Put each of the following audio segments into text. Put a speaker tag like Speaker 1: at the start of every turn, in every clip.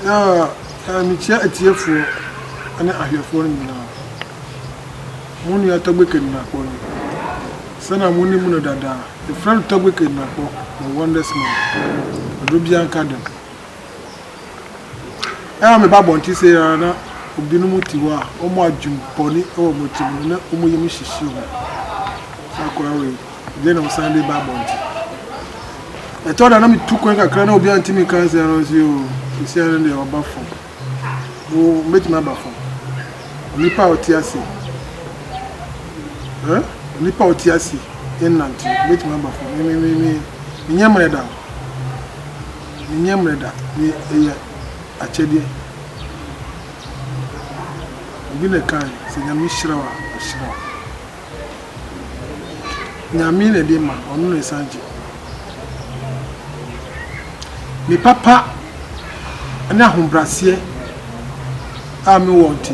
Speaker 1: Na mekyia atiefoɔ ne ahwɛfoɔ no nyinaa. Mo nua Togbe Kenenakpor ni. Sɛnea monim no dada, yɛfrɛ no Togbe Kenenakpor, the Wonders Man, Oduro Biara Nka Dɛm. Ɛa a meba abɔnten sei ara na obinom te hɔ a wɔn adwene bɔne wɔ wɔn tirim na wɔyɛ me hyehyeɛ mu. Saa akwadaa wei. Ɛdeɛn na wosan de ba abɔnten? Ɛtɔ da na metu kwan kakra na obiara ntumi nka nsɛm no nso yoo sisi ano deɛ ɔba fam wo mɛtumi aba fam onipa a ɔte ase eh onipa a ɔte ase ɛnante mɛtumi aba fam me me me me menyɛ mmerɛ da menyɛ mmerɛ da me ɛyɛ akyɛdeɛ obi na ɛkan sɛ nyame hyira wa ɔhyira wa Nyame na ɛde ma, ɔno na ɛsan gye. Me papa ne ahobraseɛ a me wɔ nti,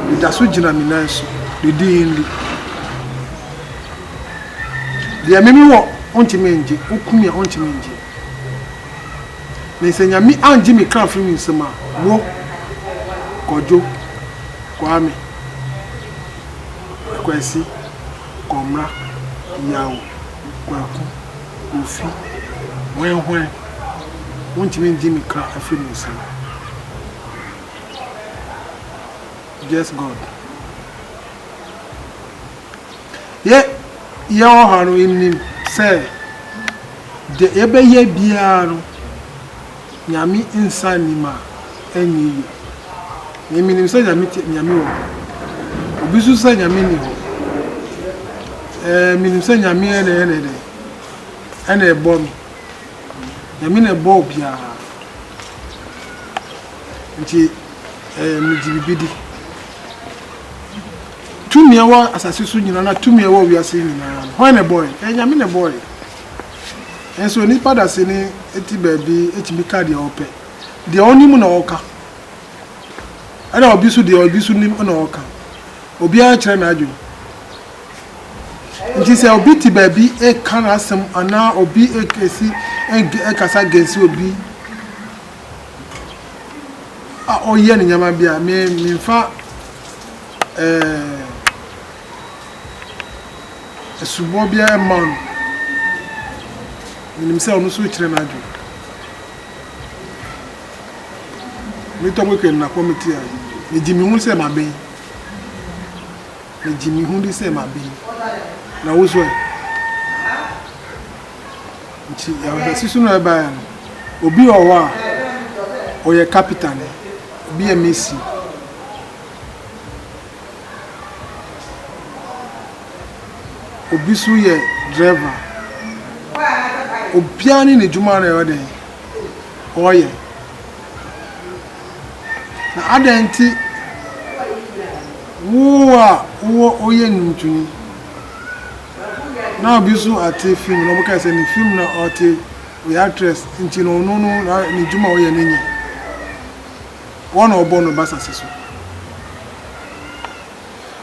Speaker 1: me da so gyina me nan so, ne din ni. Deɛ me me wɔ, ɔntumi ngye, ɔkumi a ɔntumi ngye. Ne sɛ Nyame angye me kra firi me nsam a, wo, Kwadwo, Kwame. Kwasi, Kɔmra, Yaw, Kwaku, Kofi, Hwɛn Hwɛn, Wontumi Ngye Me Kra Afiri Me Nsam, Just God. Yɛ, yɛ wɔ ha no, nnim sɛ deɛ yɛbɛyɛ biara no, Nyame nsa nnim a, ɛnyɛ yie. Me menim sɛ Nyame te, Nyame wɔ hɔ. Obi nso sɛ Nyame nni hɔ. Ɛɛ, menim sɛ Nyame ɛna ɛna ɛdɛ, ɛna ɛbɔ me. Nyame na ɛbɔ obiara. Nti ɛɛ, megye biribi di. Tumi a ɛwɔ asase so nyinaa, anaa tumi a ɛwɔ wiase nyinaa no, hwan na ɛbɔeɛ? Ɛyɛ Nyame na ɛbɔeɛ. Nanso nnipa dasani te baabi tumi ka deɛ ɔpɛ. Deɛ ɔnim na ɔka. Ɛna obi nso deɛ obi nso nim na ɔka. Obiara kyerɛ n'adwene. Nti sɛ obi te baabi reka n'asɛm anaa obi kesi kasa gɛnsi obi a ɔyɛ ne nneɛma bi a, me memfa ɛɛ. Asubɔ biara mma no. Menim sɛ ɔno nso rekyerɛ n'adwene. Metɔ mo kɛ nnakɔ me tia. Megye me ho sɛ maben. Megye me ho di sɛ maben. Na wo so ɛ? Nti yɛhwɛ sisu no ɛba ya no. Obi wɔ hɔ a ɔyɛ kapita ne. Obi yɛ mesi. Obi so yɛ driver. Obiara ne n'adwuma na ɛyɛ dɛn? Ɔyɛ. Na adɛn nti wo a wowɔ woyɛ nnwontoni na obi so ate film na wɔka sɛ ne film na ɔte ɔyɛ actress nti no ɔno no n'adwuma a ɔyɛ no nyɛ? Woana a ɔbɔɔ no ba asase so?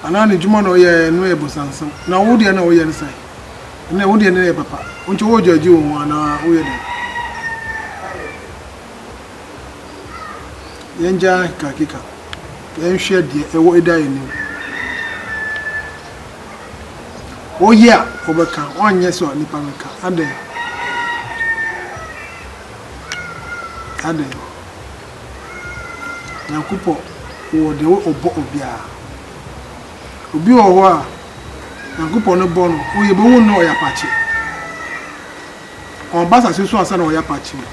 Speaker 1: Anaa n'edwuma na ɔyɛe no yɛ bɔnsansɛm, na wo deɛ na woyɛ no sɛn? Ndɛ wo deɛ no yɛ papa, ntsi worodwadzi woho anaa woyɛ dɛn? Yɛngyaa nkekakeka, yɛnhwɛ deɛ ɛwɔ eda yɛnim. Woyɛ a, wobɛka, woannyɛ so a nipa no ka. Adɛn? Adɛn? Nyankopɔ wɔ deɛ wɔ ɔbɔ obiara obi wɔ hɔ a Nyankopɔ no bɔ no wo yɛ bɛ hu no ɔyɛ apakye ɔn ba asase so ansa na ɔyɛ apakye mu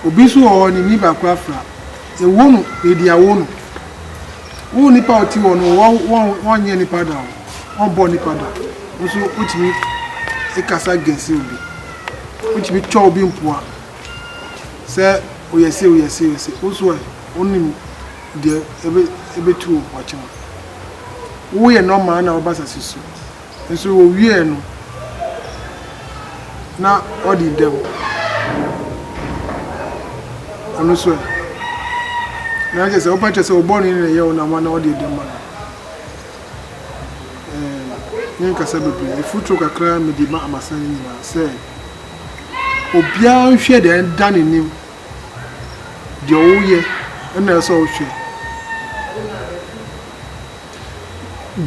Speaker 1: obi nso wɔ hɔ ne ni baako afra yɛ wo no yɛ di awo no wo nipa a ɔti wɔ no wɔ wɔn wɔn nyɛ nipa da o wɔn bɔ nipa da nso wotumi ekasa gɛnsi obi wotumi twɛ obi mpoa. sɛ woyɛ sei woyɛ sei sei, wo nso ɛ? Wonim deɛ ɛbɛ ɛbɛtu wo ɔkyɛ wo. Woyɛ normal na woba asase so nso owieɛ no na ɔde dɛm. Ɔno nso ɛ? Na kyerɛ sɛ woba kyerɛ sɛ wo bɔne no na ɛyɛ wo na ama na ɔde dɛm ma no. Ɛɛ menkasa bebree, mfuturo kakra mede ma Amasane nyinaa sɛ. Obiara nhwɛ deɛ ɛda n'anim, deɛ woyɛ na ɛsɛ sɛ ɔhwɛ.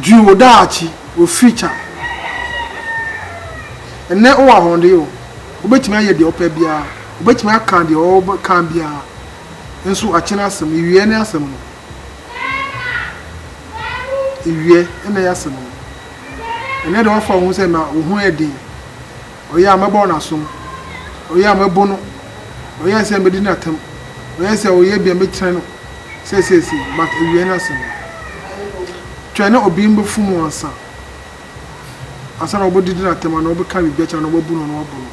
Speaker 1: Dwene wo daakye, wo future. Ɛnnɛ wowɔ ahoɔden o, wobɛtumi ayɛ deɛ wopɛ biara, wobɛtumi aka deɛ wobɛka biara, nso akyire no asɛm, awieɛ no asɛm no. Ewiɛ na ɛyɛ asɛm o. Ɛnɛ deɛ wafa wo ho sɛ ma wo ho yɛ den. Ɔyɛ a mɛbɔ no asom. Ɔyɛ a mɛbo no. Ɔyɛ sɛ mɛdi no atɛm. Ɔyɛ sɛ ɔyɛ bi a mɛkyerɛ no sɛ seesei but ewiɛ ne asɛm o. Twɛn na obi mbɛfu mu ansa. Ansa na wɔbɛdidi no atɛm anaa wɔbɛka biribi akyerɛ no anaa wɔbɛbu no anaa wɔabo no.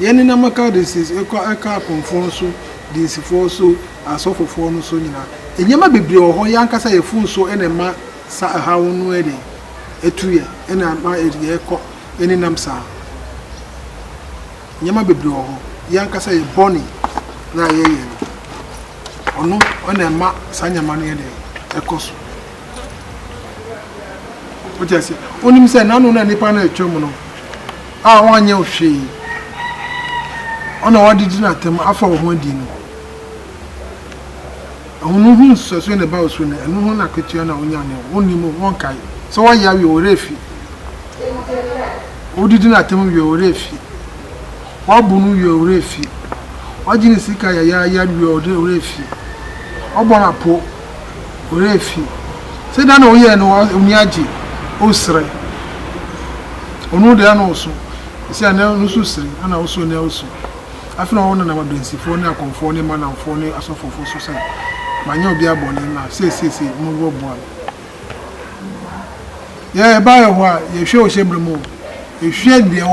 Speaker 1: Yɛne na maka de siesie ɛkɔ ɛka apɔnfoɔ so, dinsifoɔ so, asɔfofoɔ no so nyinaa. Nneɛma bebree wɔ hɔ, yɛn ankasa yɛn fon so na ɛma saa ɛhaw no yɛ den, ɛtu yɛn, na ɛma yɛkɔ ɛnenam saa. Nneɛma bebree wɔ hɔ, yɛn ankasa yɛn bɔne no a yɛyɛ no, ɔno na ɛma saa nneɛma no yɛ den, ɛkɔ so. Wote aseɛ? Wonim sɛ n'ano na nipa no retwam no a wanyɛ wo hwee. Ɔna wade di n'atam afa wo ho adi no. Ahonu ho nsusuasoɔ na ɛba wo so no, ɛno ho na akatua na wonya no. Wonnim o, wonkae. Sɛ woayɛ awie, wo werɛ afi. Wode di n'atam wie, wo werɛ afi. Woabu no wie, wo werɛ afi. Woagye ne sika yayaaya wie, wo werɛ afi. Woabɔ no apo. werɛ fi. Sɛ da na ɔyɛɛ no w'ani agye, wosrɛ. Ɔno deɛ na ɔso, ɛsɛ a na ɔno nso sere, ɛna woso na ɔso. Afei na ɔnenam adansifoɔ ne akɔmfoɔ ne Manamfoɔ ne asɔfofoɔ so sɛ, Manyɛ obiara bɔne, na sei sei sei, mommɛboa me. Yɛ ɛbaeɛ hɔ a, yɛhwɛ wo hyɛ berɛ mu o, ɛhwɛ deɛ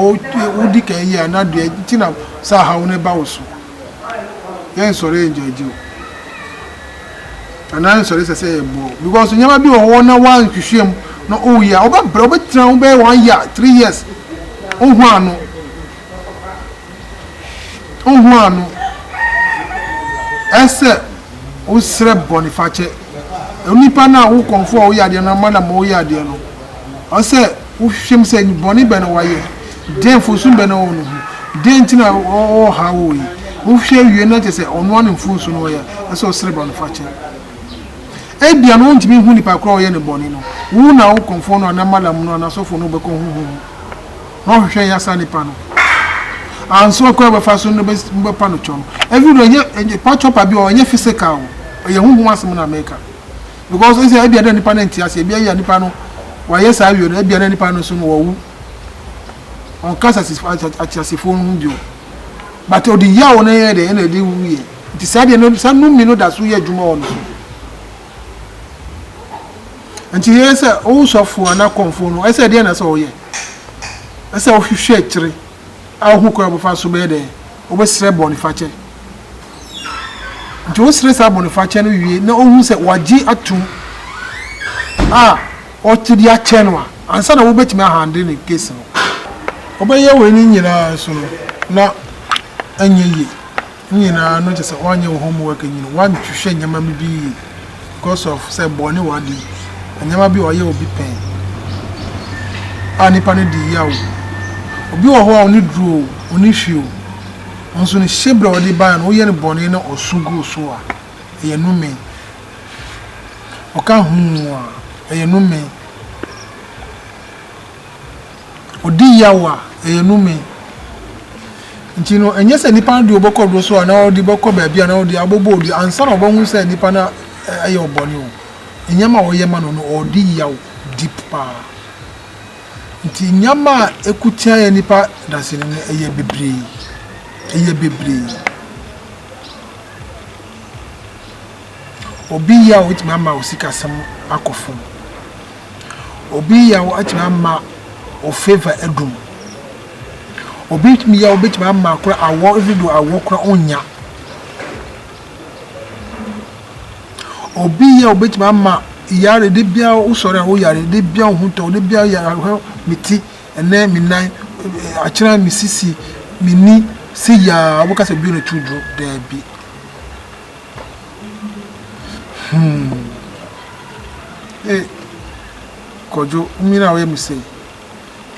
Speaker 1: wodi kan yɛ a na deɛ nti na saa haw no ba wo so. yɛ nsɔre ɛnjɔgye o anaa nsɔre sɛ sɛ yɛ bɔɔ because nyɛma bi wɔ hɔ na wa nhwehwɛ mu na o yɛ ɔbɛ brɛ ɔbɛ tena ho bɛyɛ one year three years o hu ano o hu ano ɛsɛ o srɛ bɔne fakyɛ onipa na o kɔnfo a o yɛ adeɛ no ama na ma o yɛ adeɛ no ɔsɛ. Wohwehwɛm sɛ, Bɔne bɛn na wayɛ? Dɛn mfomso bɛn na ɔwɔ ne ho? Dɛn nti na ɔrehaw wo yi? Wohwehwɛ wie no na kyerɛ sɛ, ɔno ara ne mfomso na ɔyɛ, ɛsɛ sɛ ɔsrɛ bɔnefakyɛ. Ebia na ontumi nhu nipa koro a ɔyɛ no bɔne no. Wo na wo kɔmfoɔ no anaa Malam no anaa sɔfo no bɛkɔ honhom mu na wahwehwɛ anya saa nipa no. Anso ɔkwan a wobɛfa so no na mobɛpa no kyɛw no. Ɛnde ɛnyɛ, ɛnyɛ, pa kyɛw pa bi wɔ hɔ, ɛnyɛ physical o, ɛyɛ honhom asɛm na meka. Because ese ebia na nipa no nte ase, ebia yɛ nipa no wayɛ saa awie no, ebia na nipa no nso no wawu. Ɔnka asasefo ateasefo no ho bio. But ɔde yaw no yɛ dɛ ɛna ɛde wu yɛ. Nti saa deɛ no saa numi no da so yɛ adwuma wɔ no so. Nti yɛ sɛ wo sɔfo anaa kɔmfo no ɛsɛ deɛ na sɛ ɔyɛ. Ɛsɛ ɔhwehwɛ akyire. Ahu kwan a wɔbɛfa so bɛyɛ dɛn? Wɔbɛsrɛ bɔnefakyɛ. Nti wosrɛ saa bɔnefakyɛ no wie na wohu sɛ wɔagye atom a wɔte de akyɛ no a, ansa na wobɛtumi ahandle ne case no. Wobɛyɛ wei no nyinaa nso no, na ɛnyɛ yie. Ne nyinaa no kyerɛ sɛ woanyɛ wo homework nyini, woanhwehwɛ nneɛma no bi yie because of sɛ bɔne w'adi. Nneɛma bi a ɔyɛ obi pɛn a nnipa no de yaw wo. Obi wɔ hɔ a ɔne duru o, ɔne hwi o, nso ne hyɛbrɛ a ɔde baeɛ no woyɛ no bɔne na ɔso gu wo so a, ɛyɛ nnome. Ɔka huu a, ɛyɛ nnome. ɔdi yaw a, ɛyɛ no me. Nti no, ɛnyɛ sɛ nipa no de ɔbɛkɔ do so anaa ɔde bɛkɔ baabi anaa ɔde abɔbɔ obi ansa na ɔbɛhu sɛ nipa no ayɛ ɔbɔne o, nneɛma a ɔyɛ ma no no, ɔredi yaw deep paa. Nti nneɛma a ɛko tia yɛn nipa dasani no, ɛyɛ bebree. Ɛyɛ bebree. Obi yaw betumi ama wo sikasɛm akɔ fam. Obi yaw atumi ama wo favour adum. Obi tumi yaw betumi ama kora awɔ ebi do awɔ kora onnya. Obi yaw betumi ama yare de bia wo sɔre a wo yare de bia wo ho tɔ de bia yare ahwɛ me ti ɛnɛ me nan akyerɛ me sisi me ni se yaa wo bɛka sɛ bio na tiri duro daabi. Hmm. Hey, Kojo, umina we mi se.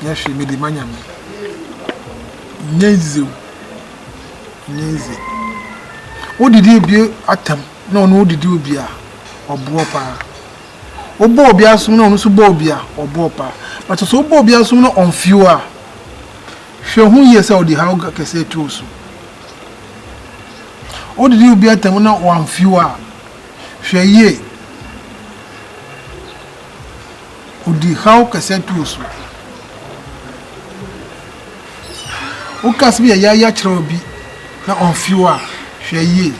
Speaker 1: Yehwe me di manya me. Nyezi. Nyezi. Wo didi obi atam na ono didi obi a obo pa. Obo obi asum na ono so bo obi a obo pa. But so obo obi asum na onfio a. Hwɛ hu yie sɛ ɔde haw kɛseɛ to wo so. Wodidi obi atɛm na wamfew a, hwɛ yie. Ɔde haw kɛseɛ to wo so. Woka asɛm yayaaya kyerɛ obi na ɔmfew a, hwɛ yie.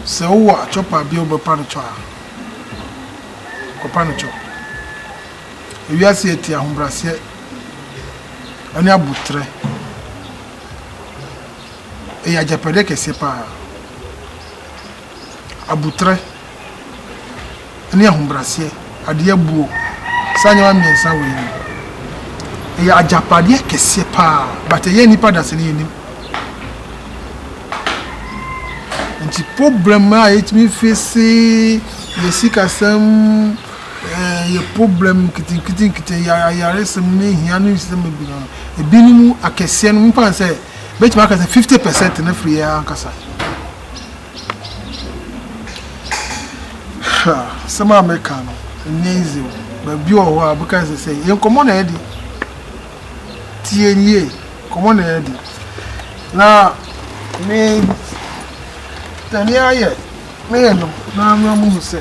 Speaker 1: Sɛ wowɔ akyɔpa bi a wobɛpa no kyɔ a, kɔpa no kyɔ. Wiase a ɛte ahobrɛaseɛ ne aboterɛ yɛ agyapadeɛ kɛseɛ pa ara. Aboterɛ ne ahobrɛaseɛ, adeɛ buo, saa nneɛma mmiɛnsa wei no, ɛyɛ agyapadeɛ kɛseɛ pa ara, but ɛyɛ nnipa da sɛ ne yɛnim. Nti problem a yɛtumi face yɛ sikasɛm, Yɛ problem nketenkete ayaresɛm ne hia ne nsɛm bebree no ebinom akɛseɛ no mfa sɛ bɛtumi aka sɛ fifty percent no firi yɛn ankasa ha sɛm a mɛka no ɛnyɛ easy o baabi wɔ hɔ a bɛka sɛ sɛ yɛn nkɔmmɔ na ɛde tie nie nkɔmmɔ na ɛde na me tani ayɛ me yɛ no na mɛ mu sɛ.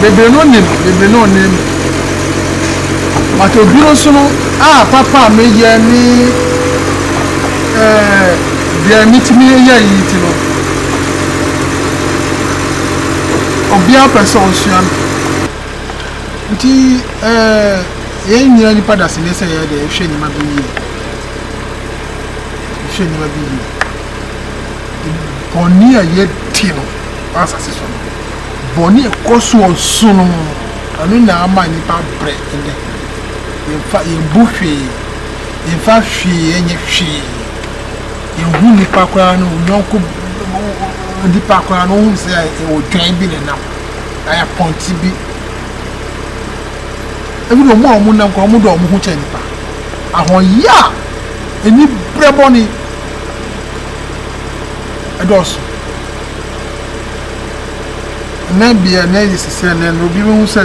Speaker 1: Bebree no nim bebree no nnim me but obi no so no a papa a me yɛ ne eh deɛ me tumi yɛ yi nti no obia pɛ sɛ ɔsua me nti eh yɛn nyina nipa dasene sɛ yɛ deɛ hwɛ nima bi yie hwɛ nima bi yie bɔne a yɛ ti no asase so no. Bɔne a ɛkɔ so wɔ so no, ɛno na ama nnipa brɛ nnɛ. Yɛmfa, yɛmbu hwee, yɛmfa hwee nyɛ hwee. Yɛnhu nnipa koraa no, wo yɔnko nipa koraa no, wohu sɛ ɛwɔ dwan bi na nam, ayɛ pɔnkye bi. Ebi de wɔn a wɔnam koraa, wɔdɔ wɔn ho kyɛ nnipa. Ahoɔyɛ a ɛni brɛ bɔne ɛdɔɔso. na deɛ na ayɛ si sɛ na obi bɛhu sɛ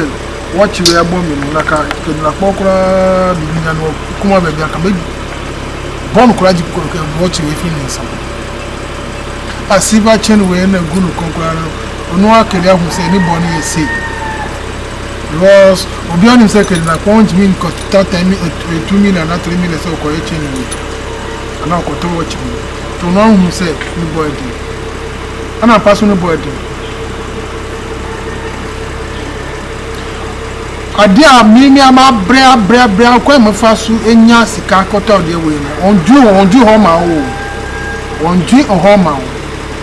Speaker 1: watch wei abɔ me no na ka kɛdina kpɔ koraa biribi nya no kuma baabi aka bɛ bɔ no koraa gye kɔkɔ kɛ watch wei firi ne nsam a silver chain wei na gu no kɔn koraa no ɔno akɛde ahu sɛ ne bɔ no yɛ sei because obi anim sɛ kɛdina kpɔ ntumi nkɔta tɛmi etu mi na na tiri mi na sɛ ɔkɔyɛ chain wei ana ɔkɔtɔ watch wei tɔn ahunu sɛ ne bɔ ɛdi. Ɛna mpa so no bɔ aduru. Adeɛ a me me ama abrɛ abrɛ abrɛ akwan mɛfa so anya sika kɔtɔ adeɛ wei no wɔn dwi wɔn dwi hɔ ma wo wɔn dwi hɔ ma wo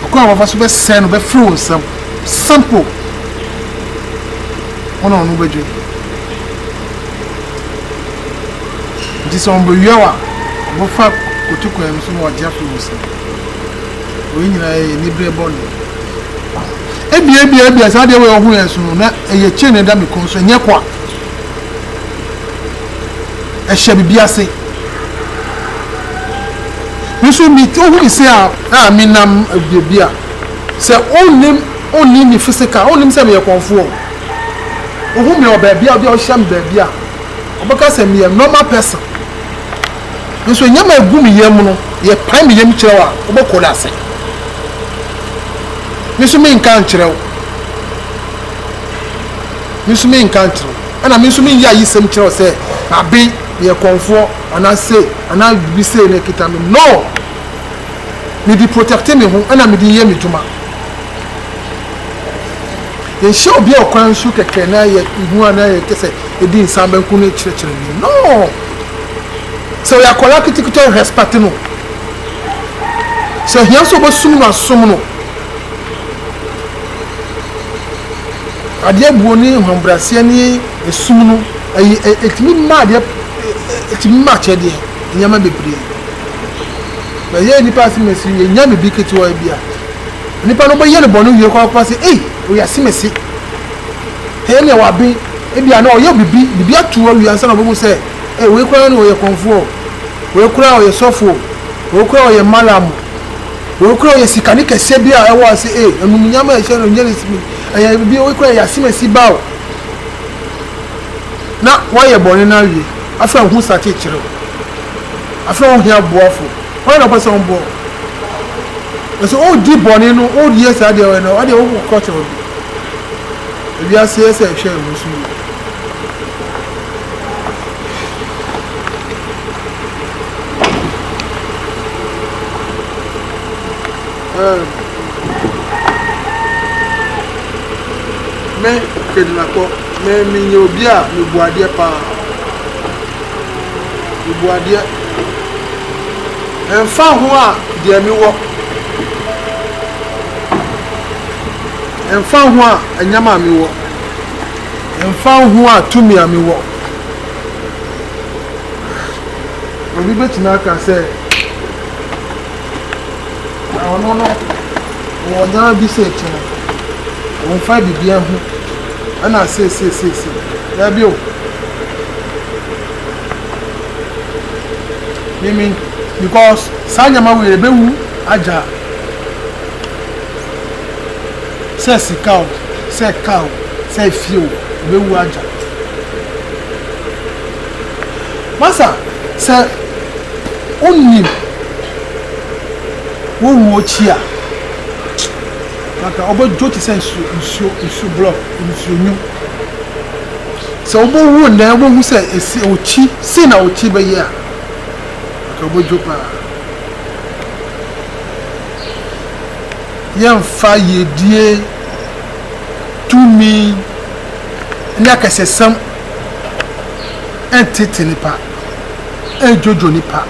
Speaker 1: akwan wɔfa so bɛsɛn no bɛfiri wɔn nsam simple wɔn na wɔn bɛdwi nti sɛ wɔn bɛwia wa wɔfa koto kwan no so na wɔagye afiri wɔn nsam. Wei nyinaa yɛ yɛn anibere bɔne. Ebia, ebia, ebia saa adeɛ wei ɔho yɛ nso no, na ɛyɛ kyen na ɛda me kɔn so, ɛnyɛ kwa. Ɛhyɛ biribi ase. Nso mi ohu mi se a a mi nam biribi a sɛ onnim onnim mi physical onnim sɛ meyɛ kɔnfoɔ. Ohu mi wɔ baabi a ɔde ɔhyɛ mi baabi a ɔbɛka sɛ meyɛ normal person. nso nneɛma a egu me yam no, yɛpae me yam kyerɛ wo a, wobɛkɔ no ase. Me nso menka nkyerɛ wo. Me nso menka nkyerɛ wo. Ɛna me nso menyɛ ayisɛm kyerɛ wo sɛ maben, meyɛ kɔmfoɔ anaa sei anaa biribi sei na ɛkita me. No! Mede protɛkte me ho ɛna mede yɛ me dwuma. Yɛnhyɛ obi a ɔkwan so kɛkɛ na yɛhu anaa yɛpɛ sɛ yɛdi nsa bɛnko no kyerɛkyerɛ no. No! Sɛ ɔyɛ akwadaa ketekete a, respect no. Sɛ ohia sɛ ɔbɛsom no a, som no. Adeɛ buo ne ahobrɛaseɛ ne esum no, ɛyi ɛ ɛtumi ma adeɛ ɛtumi ma akyɛdeɛ nneɛma bebree. Na yɛn nipa asemɛsi yɛnya biribi ketewa bi a, nipa no bɛyɛ no bɔne wie kɔ akɔpa sɛ ei ɔyɛ asemɛsi. Ɛyɛ nea waben. Ebia na ɔyɛ biribi, biribi ato hɔ awie ansa na ɔbɛhu sɛ, Ei, wei koraa no ɔyɛ kɔmfoɔ o. Wei koraa ɔyɛ sɔfo o. Wei koraa ɔyɛ mallam o. Wei koraa ɔyɛ sikani kɛseɛ bi a ɛwɔ ase. Ei, animuonyam a ɛhyɛ no nyɛ ne sini. Ɛyɛ biribi, wei koraa ɛyɛ asemasi ba o. Na woayɛ bɔne no awie. Afei a wo ho sate kyerɛ wo. Afei a wohia aboafo. Hwan na ɔpɛ sɛ ɔboa wo? Nanso woredi bɔne no, woreyɛ saa deɛ ɔyɛ no, ɛdeɛ wokɔkyerɛ obi. Ewiase yɛ sɛ ɛhwɛɛ mo so yie. Ɛɛ, me Kedinakɔ, me menyɛ obi a mebu adeɛ paa. Mebu adeɛ. Ɛmfa ho a deɛ mewɔ. Ɛmfa ho a nneɛma a mewɔ, ɛmfa ho a tumi a mewɔ. Obi bɛtumi aka sɛ, na ɔno no wɔ nneɛma bi sɛ ɛti no, ɔmfa biribiara ho, ɛna seesieseesie. Daabi o. Mimi, because saa nneɛma wei ɛbɛwu agya. Sɛ sika o, sɛ car o, sɛ efie o, obewu agya. Masa, sɛ wonnim wo wu akyi a, anka wobɛdwo te sɛ nsuo, nsuo, nsuo blɔk, nsuo nyu. Sɛ wobɛwu nnɛ, wobɛhu sɛ esi okyi, sei na okyi bɛyɛ a, anka wobɛdwo paa. yɛmfa yiedie, tumi, ne akɛsesɛm ntete nnipa, nnwodwo nnipa.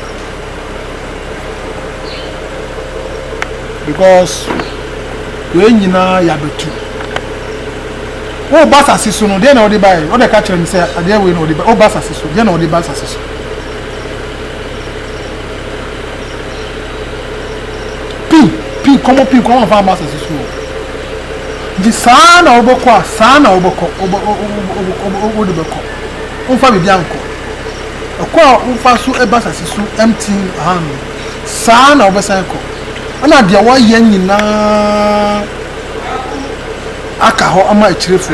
Speaker 1: Because wei nyinaa yɛ abatu. Woba asase so no, deɛ na wode baeɛ? Wode ka kyerɛ me sɛ adeɛ wei na wode baeɛ. Woba asase so, deɛ na wode ba asase so? pii pii nkɔmmɔ pii nkɔmmɔ afa masters so o nti saa na wobɛkɔ a saa na wobɛkɔ wode bɛkɔ womfa biribi ankɔ ɛkɔ a wofa so ɛba asase so ɛmti aha no saa na wobɛsan kɔ ɛna deɛ woayɛ nyinaa aka hɔ ama akyirefo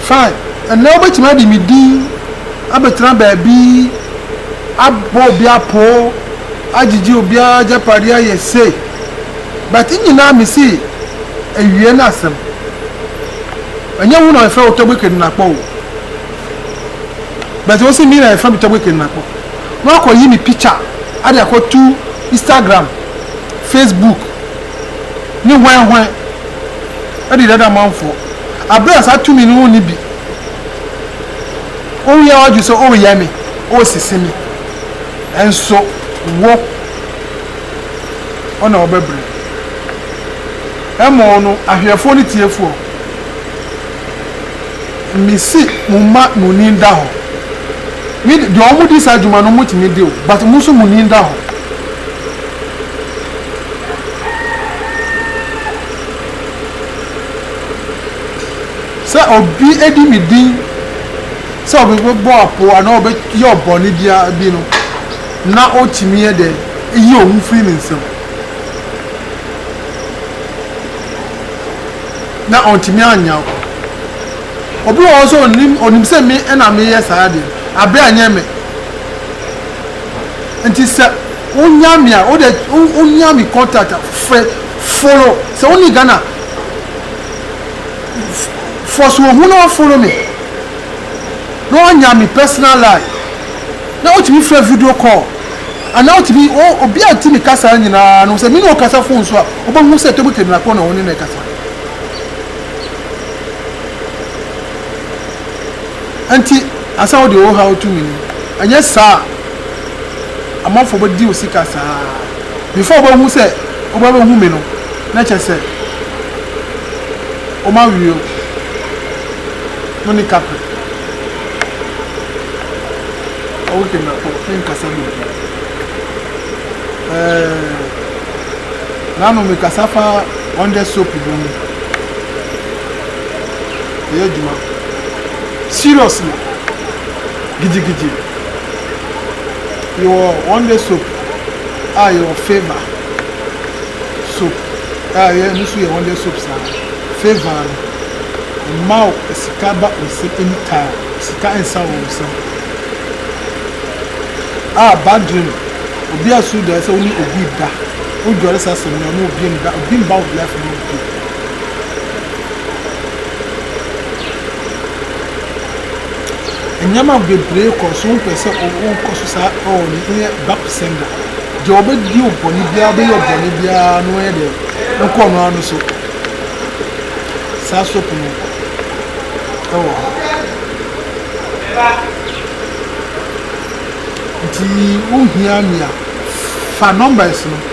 Speaker 1: Fine, ɛnnɛ wobɛtumi adi me din abɛtena baabi abɔ obi apoo, agyegye obiara agyapadeɛ ayɛ sei, but ne nyinaa mese awie ne asɛm. Ɛnyɛ wo na yɛfrɛ wo Togbe Kedinakpɔ o, but wose me na yɛfrɛ me Togbe Kedinakpɔ, na wakɔyi me picture de akɔto Instagram, Facebook ne hwɛnhwɛn. di dada manfoɔ, berɛ a saa tumi no wonni bi. Wowia w'adwene sɛ woreyɛ me, woresese me, nso wo na wobɛbrɛ. Ɛmmɔɔ no, ahwɛfoɔ ne tiefoɔ, mese mo mma mo ani nda hɔ. Me de, deɛ wɔdi saa adwuma no, wɔtumi de o, but mo nso mo ani nda hɔ. Sɛ obi di me din sɛ ɔbɛbɔ apoo anaa ɔbɛyɛ ɔbɔne biara bi no, na otumi yɛ dɛ yi owu firi ne nsam. Na ɔntumi annyaw. Obi wɔ hɔ nso onim onim sɛ me na meyɛ saa ade no, abere a ɛnyɛ me. nti sɛ wonya me a wode wonya me contact a frɛ follow sɛ wone Ghana fɔ so ohu na follow me na wanya me personal line na wotumi frɛ video call anaa wotumi obi a ntumi kasa nyinaa no sɛ me ne ɔkasa fon so a wobɛhu sɛ table table na kɔ na wo ne no ɛkasa Enti ansa na wode wo haw reto me anim. Anyɛ saa a, amanfoɔ bɛdi wo sika saa ara. Before wobɛhu sɛ wobɛbɛhu me no, na kyerɛ sɛ woma wire no ne kapre. Ɔwo Kemba kɔ, menkasa bi bio. Ɛɛ, n'ano mekasa fa ɔndɛ soap bi ho. ɔyɛ adwuma seriously gidigidi. Yɛwɔ Wonder soap a yɛwɔ Favour soap a ɛyɛ ɛno nso yɛ Wonder soap saa. Favour no ɛma wo sika ba wo nsam anytime, sika nsa wɔ wo nsam. A bad dream obi asuro daeɛ sɛ wo ne obi reda, wodware saa asɛm no a ɔne obi nda, obi mma wo life no bio. Nneɛma bebree kɔ so, wopɛ sɛ wokɔ so saa oh ne yɛ back to sender deɛ ɔbɛdi wo bɔne biara ɔbɛyɛ wo bɔne biara no yɛ deɛ wokɔ no ano so saa soap no ɛwɔ hɔ nti wohia me a fa numbers no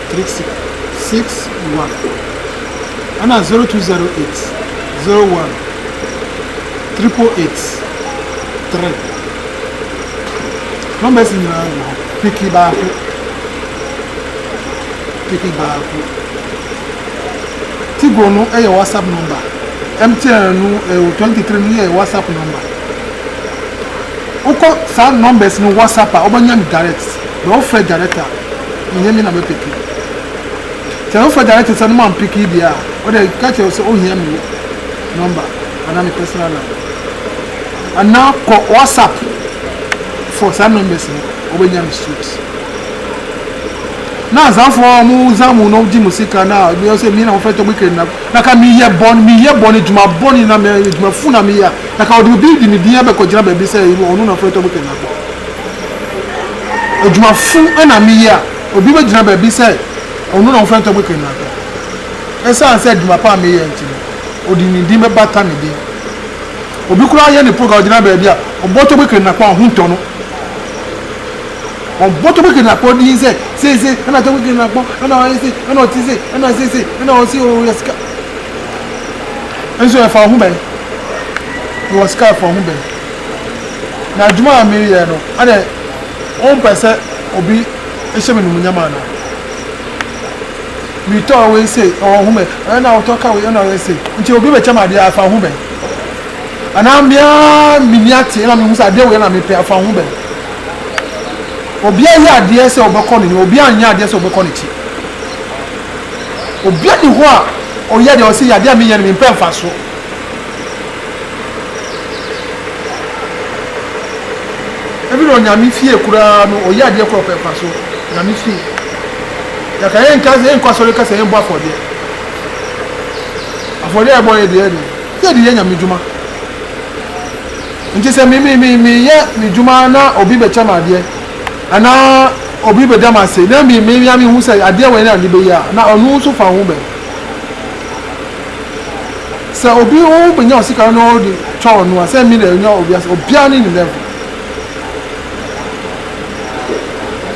Speaker 1: Click six six one ɛna zero two zero eight zero one triple eight three numbers nyinaa wɔ hɔ piki baako piki baako tigo no yɛ whatsapp number mtn no ɛwɔ twenty three no yɛ whatsapp number wokɔ saa numbers no whatsapp a wobɛnya no direct na wofrɛ direct a Nnyɛ me na mɛpeke. Sɛ wo fa direct sɛ no ma mpeke deɛ a, wode ka kyerɛ wo sɛ ohia me number anaa me personal number. Anaa kɔ WhatsApp for saa numbers no wobɛnya no straight. Na azanfoɔ a wɔn zan mu no gye mo sika na ebi wɔ sɛ me na wɔfrɛ tɔgbe kɛn na na ka meyɛ bɔne meyɛ bɔne adwuma bɔne na me adwuma fu na meyɛ a na ka wɔde obi de me din abɛkɔgyina baabi sɛ ɔno na wɔfrɛ tɔgbe kɛn na kɔ. Adwuma fun na me yɛ a obi bɛ gyina baabi sɛ ɔno na ɔfrɛ Ntɔkwa Kenyatta. Ɛsiane sɛ adwuma pa a me yɛ nti no ɔde ne din bɛ bata me din. Obi koraa yɛ ne program gyina baabi a ɔbɔ Ntɔkwa Kenyatta a ho ntɔ no. Ɔbɔ Ntɔkwa Kenyatta din sɛ sei sei ɛna Ntɔkwa Kenyatta ɛna ɔyɛ sei ɛna ɔte sei ɛna sei sei ɛna ɔse oo yɛ sika. Nso ɛfa wo ho bɛn? Mewɔ sika ɛfa wo ho bɛn? Na adwuma a mereyɛ no, ɛnde wompɛ sɛ obi hyɛ me animuonyam anaa? Metɔɔ wei sei, ɔwɔ ho bɛn? Ɛnna na wotɔ ka wei, ɛnna ɔyɛ sei. Nti obi bɛkyɛ me adeɛ a, ɛfa wo ho bɛn? Anaa me ara m'ani ate na mehu sɛ adeɛ wei na mepɛ, ɛfa wo ho bɛn? Obiara yɛ adeɛ sɛ ɔbɛkɔ n'anim, obiara nyɛ adeɛ sɛ ɔbɛkɔ n'akyi. Obiara nni hɔ a ɔyɛ deɛ ɔse yɛ adeɛ a menyɛ no mempɛ mfasoɔ. Ebi na onyame fie koraa no ɔyɛ adeɛ korɔ pɛ pa so nyame fie yɛka yɛn nka sɛ yɛn kɔ asɔre ka sɛ yɛn bɔ afɔdeɛ afɔdeɛ a yɛbɔ yɛ deɛ deɛ yɛ de yɛ nyame dwuma nti sɛ mi mi mi mi yɛ mi dwuma na obi bɛkyɛ ma adeɛ anaa obi bɛda ma ase na mi mi mi ame hu sɛ adeɛ wɔ yɛn na ne bɛyɛ a na ɔno nso fa ho bɛn. sɛ obi wo benya wo sika na ɔde twa ɔno a sɛ me na enya obi ase obiara ne ne level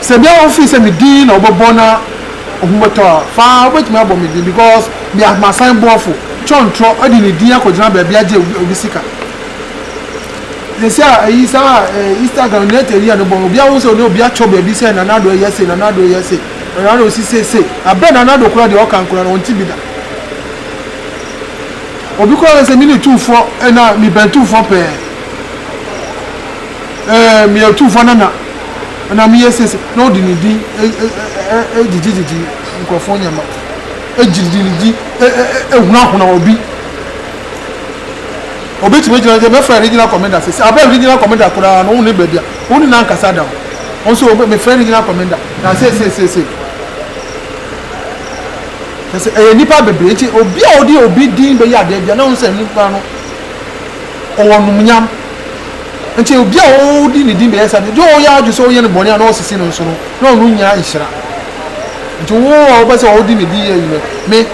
Speaker 1: sɛ bia wo feel sɛ me din na wobɛbɔ na ohun bɛtɔ a faa wobɛtumi abɔ me din because me amasan bɔɔfo kyɔntrɔ ɔde ne din akɔgyina baabi agye obi sika sɛsi a ɛyi saa instagram ne ɛtɛ yi a ne bɔ obi ahu sɛ ɔne obi akyɔ baabi sɛ nana do ɛyɛ se nana do ɛyɛ se Ɔyare a ɔsi seesei, abɛ na anadwo koraa deɛ ɔka nkoraa no ɔnte bi da. Obi koraa ka sɛ mene tumfoɔ anaa mebɛn tumfoɔ pɛɛ. Ɛɛ meyɛ tumfoɔ nana anaa meyɛ seesei na ɔde ne din gyegyegyegye nkurɔfoɔ nneɛma, gyede ne din hunahuna obi. Ɔbɛtumi agyina sɛ mɛfrɛ regional commander seesei, abɛ regional commander koraa no wo ne baabi a wo ne no ankasa da o. Ɔno nso mefrɛ regional commander. Na seesei, seesei, hwɛ, sɛ ɛyɛ nnipa bebree nti, obi a ɔde obi din bɛyɛ adeɛ biara, na ɔno sɛ nipa no, ɔwɔ numunyam. Nti obi a ɔde ne din bɛyɛ saa deɛ, deɛ ɔyɛ adwene sɛ ɔyɛ no bɔne a na ɔsisi no nso no, na ɔno nnya nhyira. Nti wo a wobɛ sɛ ɔde ne din yɛ adwuma, me,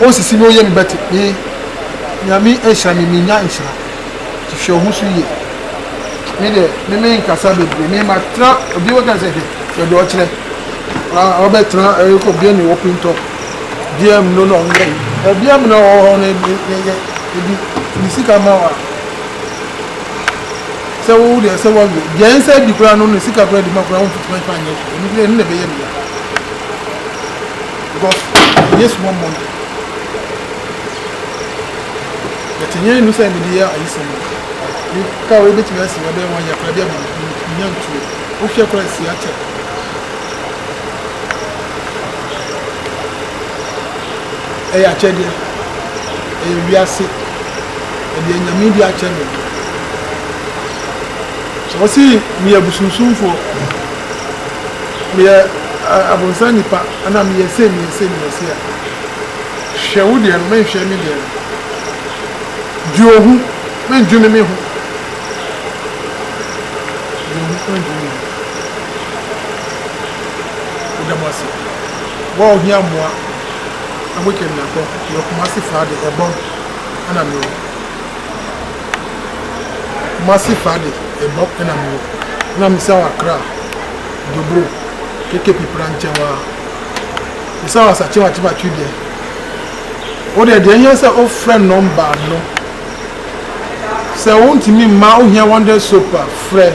Speaker 1: ɔnsisi me, ɔyɛ me bɛte, me, Nyame nhyira me, mennya nhyira. hwehwɛ wo ho so yie. Me deɛ, me menkasa bebree, me matena, obi bɛka sɛ hwɛ, baabi a ɔkyerɛ, ah, ɔbɛtena ɛrekɔ eh, bia ne wɔ pintɔ, bia mu no na ɔnyɛ yi, eh, bia mu na ɔwɔ hɔ no yɛyɛ, ebi, ne sika ma wa. Sɛ wo deɛ sɛ wɔwie, deɛ nsa di koraa no ne sika koraa di ma koraa wo mfituma fa nyɛ hwɛ, ɛno deɛ ɛno na ɛbɛyɛ ne ya. Because, ɛnyɛ small money. Yɛte hia nnu sɛ mede yɛ ayisɛm no. Me car wei bɛtumi asi hɔ bɛyɛ one year koraa bi a menya ntuo. Wo hwɛ koraa asi akyɛ. Ɛyɛ akyɛdeɛ. Ɛyɛ wiase. Ɛdeɛ nyame de akyɛ me. Sɛ wɔsi meyɛ busunsumfoɔ, meyɛ abonsan nipa, anaa meyɛ sei meyɛ sei meyɛ sei a. Hwɛ wo deɛ no, menhwɛ me deɛ no. Dwe ohu, mendwene me ho. Dwe ohu, mendwene me ho. Woda mo ase. Wo a ohia mmoa na woatwa me akɔ, mewɔ Kumasi faa de, Ebong ɛna mewɔ. Kumasi faa de, Ebong ɛna mewɔ. Ɛna mesa wɔ Accra, Dobro, KKP pra nkyɛn waa. Bisa wo asakye wakye bakye deɛ wo deɛ deɛ hia sɛ wo frɛ nɔmba no sɛ wo ntumi mma wo hia wonder soap a frɛ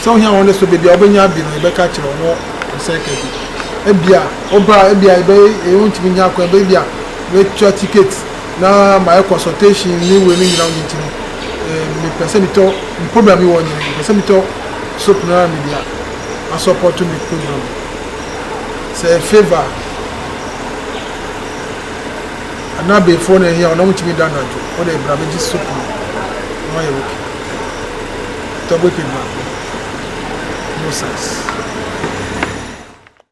Speaker 1: sɛ wo hia wonder soap baabi a wo bɛnya bi no yɛ bɛka kyerɛ wo no sɛ ka bi ebia wo ba ebia ebe eyi wo ntumi nya kwan baabi a bɛtua ticket na ma yɛ consultation ne wei no nyina wo nyinti no me pɛ sɛ mitɔ program yi wɔ nyɛ pɛ sɛ mitɔ soap no ara mi dia asɔpɔto mi program sɛ favour a ana abeefoɔ na ɛhia wɔn na wɔntumi da anadwo wɔde bra bɛgye soap no na wɔayɛ ok tɔ bɛkɛ baako no sense.